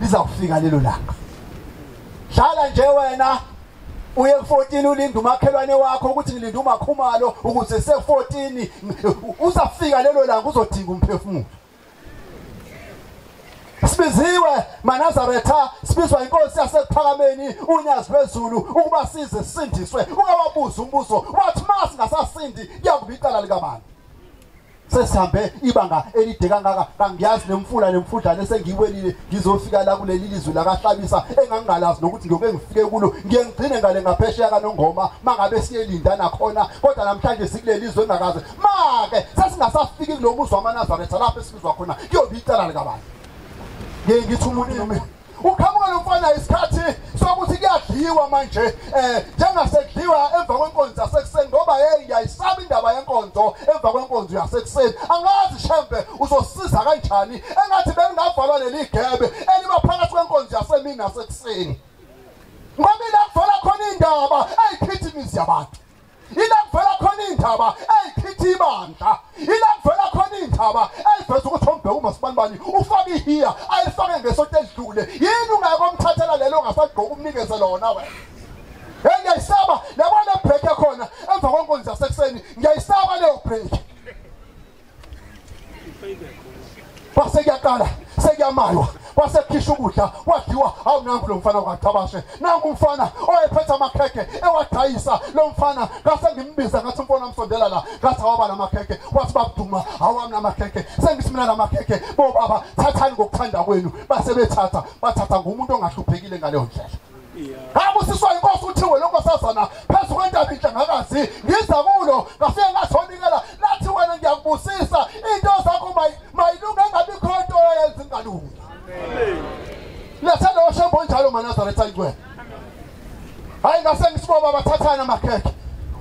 lizakufika lelo langa hlala nje wena uye ku14 ulinda umakhelwane wakho ukuthi ngilinda umakhumalo ukuthi se14 uzafika lelo langa uzodinga umphefumulo sibiziwe manazaretha sibizwa inkosi yasekuphakameni unyazi lwezulu ukuba size sisindiswe ungawabuza umbuzo wathi ma singasasindi kuyakuba icala likabani sesihambe ibanga elide kangaka kangiyazi nemfula nemfudlane sengiyiwelile ngizofika la kuleli lizwe lakahlabisa engangingalazi nokuthi ngiyoke ngifike kulo ngiye ngigcine ngale ngaphesheya kanongoma mangabe siyelinda nakhona kodwa namhlanje sikuleli izwe engakaze make sesingasafiki kulo muzi wamanazaretha lapho esibizwa khona kuyobe icala likabani ngiye ngithi umuntu Uqhamuka lo mfana isikhathi sokuthi kuyadliwa manje eh njengasekudliwa emva kwenkonzo yasekuseni ngoba hey ngiyayisaba indaba yenkonzo emva kwenkonzo yasekuseni angazi shembe uzosiza kanjani engathi bengingavalwa leli gebe eliba phakathi kwenkonzo yasemini nasekuseni ngoba ila kuvala khona indaba ayiphithi imizi yabantu ila kuvela khona indaba eyikhitha ibandla ila kuvela khona indaba eyiveza ukuthi ombheka umasibani ufaka ihiya ayifake ngesonto edlule yini ungeke omthathela lelo ongasagqoka umnikeze lona wena hey ngiyayisaba yabona break yakhona emva kwenkonzo yasekuseni ngiyayisaba leyo break kwase kuyaqala sekuyamaywa kwase kukhisha ukudla wadliwa hawu nangu lo mfana wakachabashe nangu umfana owayephethe amakhekhe ewadayisa lo mfana ngase ngimbiza ngathi umfana wamsondela la ngathi awaba namakhekhe wathi babuduma awami namakhekhe sengithi mina namakhekhe bo baba thathani ngokuthanda kwenu base bethatha bathatha ngumuntu ongahluphekile ngaleyo ndlela ngabusiswa inkosi uthiwe lokho sazana phezu kwentaba inhle ngakazi ngiza kulo ngafike ngathonikela lathi wena ngiyakubusisa into zakho mayilunge engabikho into oyenza ingalungi letha lowo shembo onjalo manazaretha ingcwele hayi ngase ngisiboba bathathana amakhekhe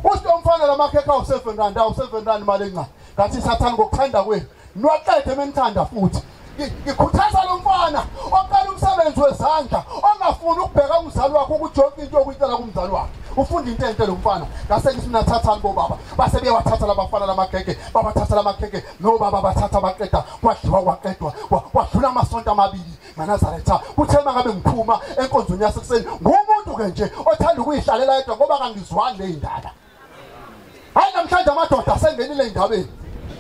usho umfana lamakhekhe awu-seven rand awu-seven rand imali encane ngathi sathane ngokuthanda kwenu Nwaqede menithanda futhi. Ngikhuthaza lo mfana oqala umsebenzi wezandla ongafuni ukubheka umzali wakhe ukuthi yonke into okuyitela kumzali wakhe. Ufunda into enhle lo mfana. Ngase ngithi mina thathani bo baba. Base beyawathatha labafana lamagege, babathatha lamagege no baba bathatha baqeda kwadliwa kwaqedwa kwadlula amasonto amabili nganazaretha. Kuthe mangabe ngiphuma enkonzweni yasekuseni ngumuntu ke nje othanda ukuyihlalela yedwa ngoba kangizwani leyindaba. hayi namhlanje amadoda asengenile endabeni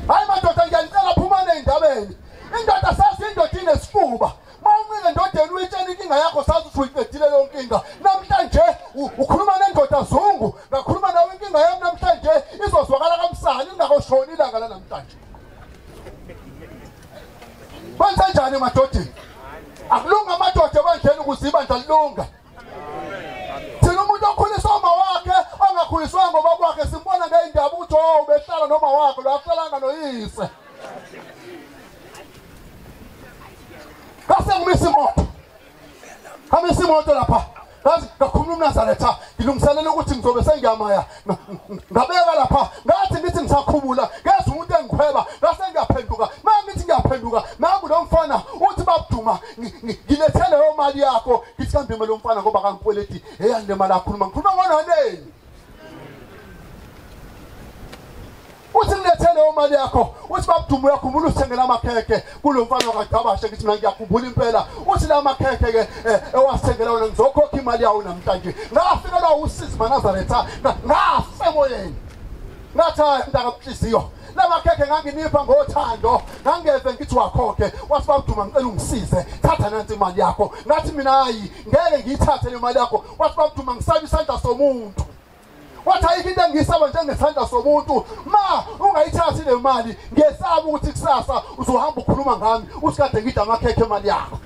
hayi madoda ngiyanicela phumane endabeni indoda sazi indoda inesifuba mawuncike ndodeni uyitshela inkinga yakho sazi ukuthi uyiqedile leyo nkinga namhlanje ukhuluma nendoda zungu ngakhuluma nawe inkinga yami namhlanje izozwakala kamsana ingakoshoni ilanga lanamhlanje kwenzenjani emadodeni akulunga amadoda ebandleni ukuze ibandla lilunga thina umuntu okhuliswa uma wakhe ongakhuliswanga ubaba wakhe simbona ngey'ndaba ukuthi o oh, ubehlala noma wakhe lo akuhlalanga noyise ngasengimisa imoto amisa imoto lapha ngazi ngakhuluma umnazaretha ngilungiselela ukuthi ngizobe sengiyamaya ngabeka lapha ngathi ngithi ngisakhumula ngezwa umuntu engikhweba ngase ngiyaphenduka manje ngithi ngiyaphenduka nangu lo mfana uthi babuduma ngilethele leyo mali yakho ngithi kambe imali yomfana ngoba kangikweleti eyani le mali akhuluma ngikhuluma ngononeni uthi mlethe leyo mali yakho uthi babuduma uyakhumbula usithengela amakhekhe kulo mfana wakagabashe ngithi mina ngiyakhumbula impela uthi la makhekhe-ke eh, ewasithengela wona ngizokhokha imali yawo namhlanje ngafikelwa usizi manazaretha ngafe emoyeni ngathi hayi mntakamhliziyo lamakhekhe nganginipha ngothando ngangeze ngithi wakhokhe wathi babuduma ngicela ungisize thatha nansi imali yakho ngathi mina hayi ngeke ngiyithathe le mali yakho wathi babuduma ngisaba isandla somuntu wathi ayikho into engiyisaba njengesandla somuntu ma ungayithathi le mali ngesaba ukuthi kusasa uzohamba ukhuluma ngami usikade ngida amakhekhe emali yakho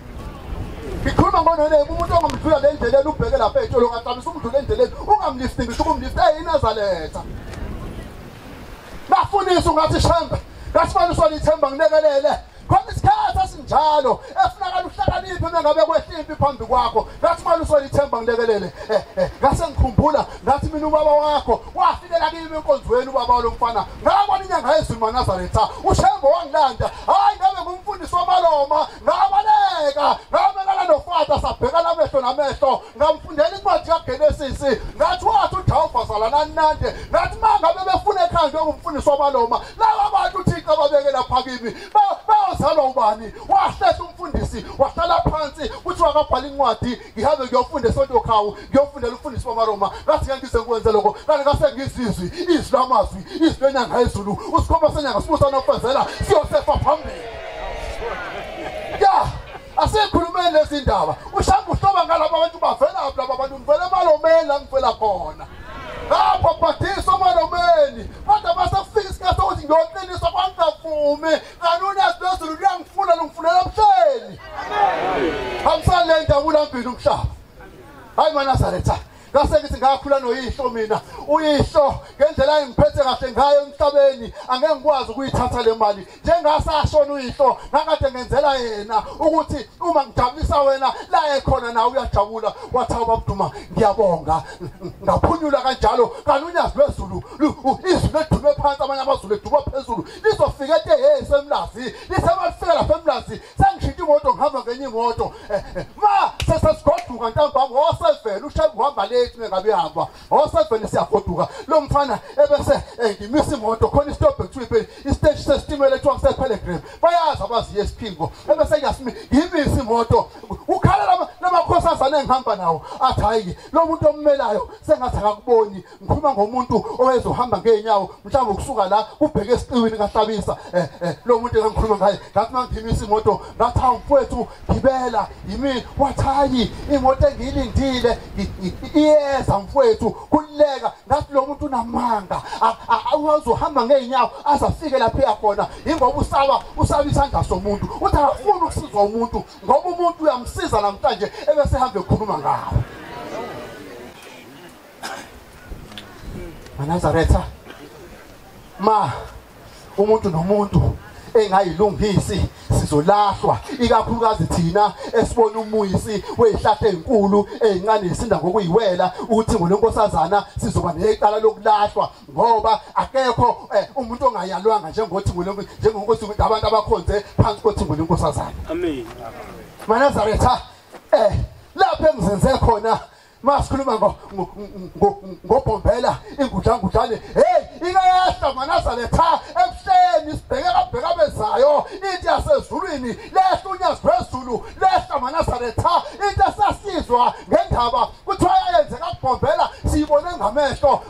ngikhuluma ngononeke umuntu ongamdlula le ndleleni ubheke lapha etsholo ngaxabisa umdlula endleleni ungamlifti ngisho ukumlifta eyinazaletha bafundisa ungathi shembe ngasifaniswa lithemba ngilekelele khona isikhathi esinjalo efunakala uhlakaniphe uma ngabe kwehla impi phambi kwakho ngathi mali usolithemba ngilekelele eh, eh, ngase ngikhumbula ngathi mina ubaba wakho wafikela kimi enkonzweni ubaba walo mfana ngabona inyanga yezulu manazaretha ushembo wangilanda hhayi ngabe ngumfundisi wamaloma ngabaleka ngamelana nofata sabhekana amehlo namehlo ngamfundela incwadi kaGenesis ngathi wathi uJehova zalana nande ngathi mangabe befuna ekhaya njengomfundisi wabaloma laba bantu uThixo ababeke lapha kimi bayozalwa ubani wahlehla umfundisi wahlala phansi kuthi wakabhala incwadi ngihambe ngiyofunda esonto khawu ngiyofundela umfundisi wamaroma ngathi ngeke ngize ngikwenze lokho kanti ngase ngizizwi izwi lamazwi izwi lenyanga yezulu usikhomba senyanga sibusa nokufezela siyosefa phambili ya yeah. Asikhulumeni lezi ndaba. Ushamba uhloba ngalabo bantu bavela phi laba bantu ngivela emalomeni la ngivela khona. Lapho bhathisa emalomeni. Kodwa basefika isikhathi sokuthi ngiyoqiniswa kwangavumi. Kanuni yasilezulu luyangifuna lungifunela ebuhleni. Hamsale ndawula mbili umhlaba. Hayi manazaretha. ngase ngithi ngakhula noyihlo mina uyihlo ngendlela engiphethe kahle ngayo emhlabeni angeke ngikwazi ukuyithatha le mali njengasashona uyihlo ngakade ngenzela yena ukuthi uma ngijabulisa wena la ekhona nawe uyajabula wathi awubabuduma ngiyabonga ngaphunyula kanjalo kanti unyazi lwezulu izulu ledulwe phansi amanye amazulu edulwa phezulu lizofika ete hey semlazi lisebalifika lapha emlazi sengishintsha imoto ngihamba ngenye imoto eh, eh, ma sesesigoduka ntambama wasevela ushebu uhamba late mengabe ihamba osevele siyagoduka lo mfana ebese engimisa imoto khona istop kuthiwa ipheli isiteshi sesitimela ekuthiwa kusepelegram bayazi abazi yesiphingo ebese yasimi yimisa imoto ukhala lama lamakhosi azane engihamba nawo athi hayi lo muntu ommelayo sengathi akakuboni ngikhuluma ngomuntu owezohamba ngeenyawo mhlawumbe ukusuka la kubheke esiqiwini kahlabisa eh, eh, lo muntu engikhuluma ngaye ngathi mangimisa imoto ngathi awumfowethu gibela yimi wathayi imoto engiyilindile iyeza mfowethu kuleka ngathi lo muntu unamanga awazi uhamba ngeenyawo azafike lapho eyakhona yingoba usaba usaba isandla somuntu uthi akafuni ukusizwa umuntu ngoba umuntu uyamsiza namhlanje ebese ehambe ekhuluma ngawo manazaretha ma umuntu nomuntu engayilungisi sizolahlwa ikakhulukazi thina esibona umuyisi wezihlahla ezinkulu ezincane isinda ngokuyiwela ukuthi ngolenkosazana sizoba necala lokulahlwa ngoba akekho eh, umuntu ongayalwanga njengothi ngolenkosi njengonkosi ukuthi abantu abakhonze phansi kothi ngolenkosazana amen manazaretha eh lapho engizinze khona masikhuluma ngobhombela ingujangujane heyi ingayehla manazale pha ebuhleni sibheke kabheka bezayo into yasezulwini lehla unyazi phezulu lehla manazale pha into esasizwa ngendaba kuthiwa yayenzeka kubhombela siyibone ngamehlo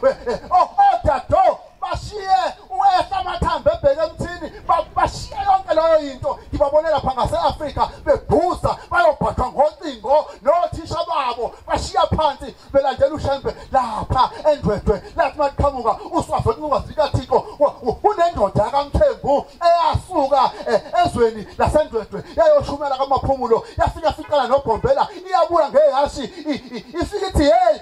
odado bashiye uwehla amathambo ebheke emthini bashiye yonke leyo yinto ngibabone lapha ngase-afrika bebhuza bayobhathwa ngocingo nothisha babo bashiya phansi belandela ushembe lapha endwedwe lathi maliqhamuka uswafe kungazi likathixo kunendoda yakamthembu eyasuka eh, ezweni lasendwedwe yayoshumela kamaphumulo yafika fiqala nobhombela iyabula ngehhashi ifike ithi heyi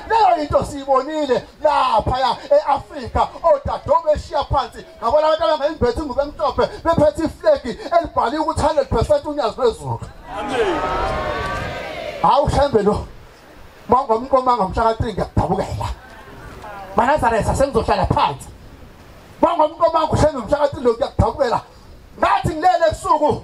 leyo yinto siyibonile laphaya e-afrika odadobo beshiya phansi ngabona abantu abangayimbethi ingubo emhlophe bephethe iflegi elibhaliwe ukuthi 100 percent unyazi lwezulu hawu shembe lo mangomqoma ngamshaka 3 ngiyakudabukela manazaresa sengizohlala phansi mangomqoma ngushenga umshaka 3 lo ngiyakudabukela ngathi ngilele ebusuku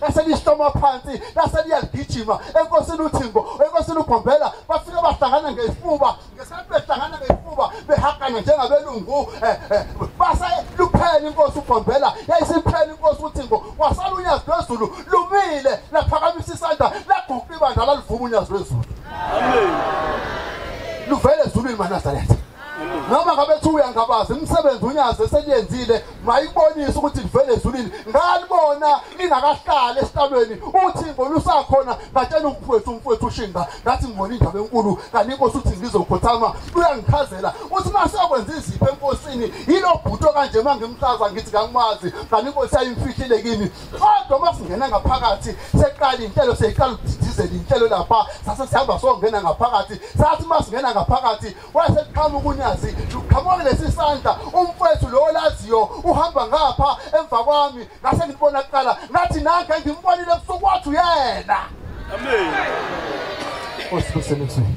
lase lihloma phansi lase liyaligijima enkosini uThimbo enkosini uGombela bafike bahlangana ngezifuba ngesikhathi behlangana ngezifuba behagana njengabelungu eh, eh, base luphela inkosi uGombela yayisiphela inkosi uThimbo wasala unyazi lwezulu lumile laphakamisa isandla laguqula ibandla lalivuma unyazi lwezulu amen luvele ezulwini manazaretha noma ngabe thuya ngabazi imisebenzi unyazi eseliyenzile mayibonise ukuthi livele ezulwini ngalibona ningakahlali esitalweni uthingo lusakhona ngatshela umfowethu umfowethu ushinga ngathi ngibona indaba enkulu kanti inkosi uthi ngizokhothama uyangichazela uthi uma sekwenza izipho enkosini yilo bhuto kanje uma ngimchaza ngithi kangimazi kanti inkosi yayimfihlile kimi kodwa uma singena ngaphakathi seqala inhlelo seyiqala ukudidizela inhlelo lapha sase sihamba songena ngaphakathi sathi uma singena ngaphakathi wase kuqhamuka unyazi luqhamuka lesi sandla umfowethu lowo laziyo uhamba ngapha emva kwami ngase ngibona kuqala ngathi nanke ngimbonile ebusuku wathi uyena amen osibuseni kuzweni